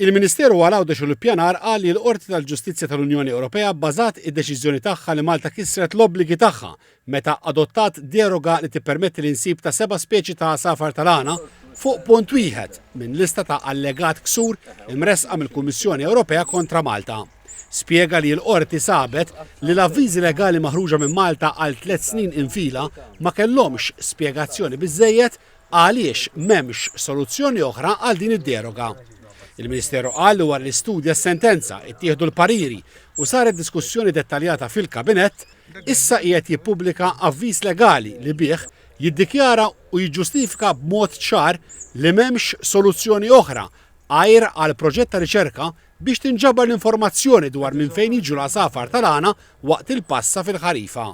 Il-Ministeru għal Għawdex u l-Ippjanar qal li l-Qorti tal-Ġustizzja tal-Unjoni Ewropea bbażat id-deċiżjoni tagħha li Malta kisret l-obbligi tagħha meta adottat deroga li tippermetti l-insib ta' seba' speċi ta' għasafar tal-għana fuq punt wieħed minn lista ta' allegat ksur imressqa mill-Kummissjoni Ewropea kontra Malta. Spjega li l-Qorti sabet li l-avviżi legali maħruġa minn Malta għal tliet snin infila ma kellhomx spjegazzjoni biżżejjed Għaliex m'hemmx soluzzjoni oħra għal din id-deroga? Il-Ministeru qal li wara li studja s-sentenza, ittieħdu l-pariri u saret diskussjoni dettaljata fil-Kabinett, issa qiegħed jippubblika avviż legali li bih jiddikjara u jiġġustifika b'mod ċar li m'hemmx soluzzjoni oħra għajr għal proġett ta' riċerka biex tinġabar l-informazzjoni dwar minn fejn jiġu l-għasafar tal-għana waqt il-passa fil-ħarifa.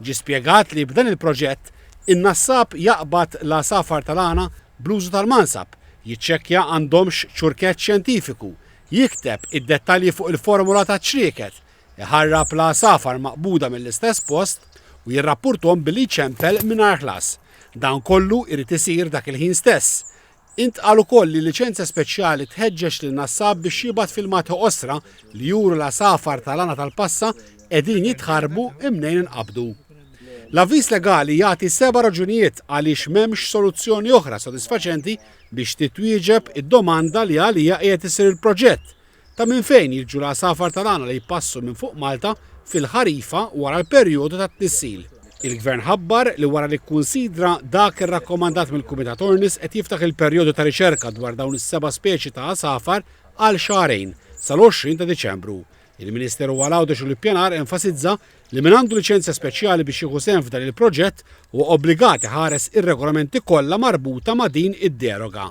Ġie spjegat li b'dan il-proġett, in-nassab jaqbad l-għasafar tal-għana bl-użu tal-mansab, jiċċekkja għandhomx ċurkett xjentifiku, jikteb id-dettalji fuq il-formola taċ-ċrieket, iħarrab l-għasafar maqbuda mill-istess post u jirrappurthom billi jċempel mingħajr ħlas. Dan kollu jrid isir dak il-ħin stess, Intqal ukoll li l-liċenzja speċjali tħeġġeġ lil Nassab biex jibgħat filmati qosra li juru l-għasafar tal-għana tal-passa qegħdin jitħarrbu mnejn inqabdu. L-avviż legali jagħti seba' raġunijiet għaliex m'hemmx soluzzjoni oħra sodisfaċenti biex titwieġeb id-domanda li għaliha qiegħed isir il-proġett, Ta' minn fejn jiġu l-għasafar tal-għana li jpassu minn fuq Malta fil-ħarifa wara l-perjodu tat-tnissil? Il-Gvern ħabbar li wara li kkunsidra dak irrakkomandat mill-Kumitat Ornis qed jiftaħ il-perjodu ta' riċerka dwar dawn is-seba' speċi ta' għasafar għal xahrejn, sal-20 ta' Diċembru. Il-Ministeru għal Għawdex u l-Ippjanar enfasizza li min għandu liċenzja speċjali biex jieħu sehem f'dan il-proġett huwa obbligat iħares ir-regolamenti kollha marbuta ma' din id-deroga.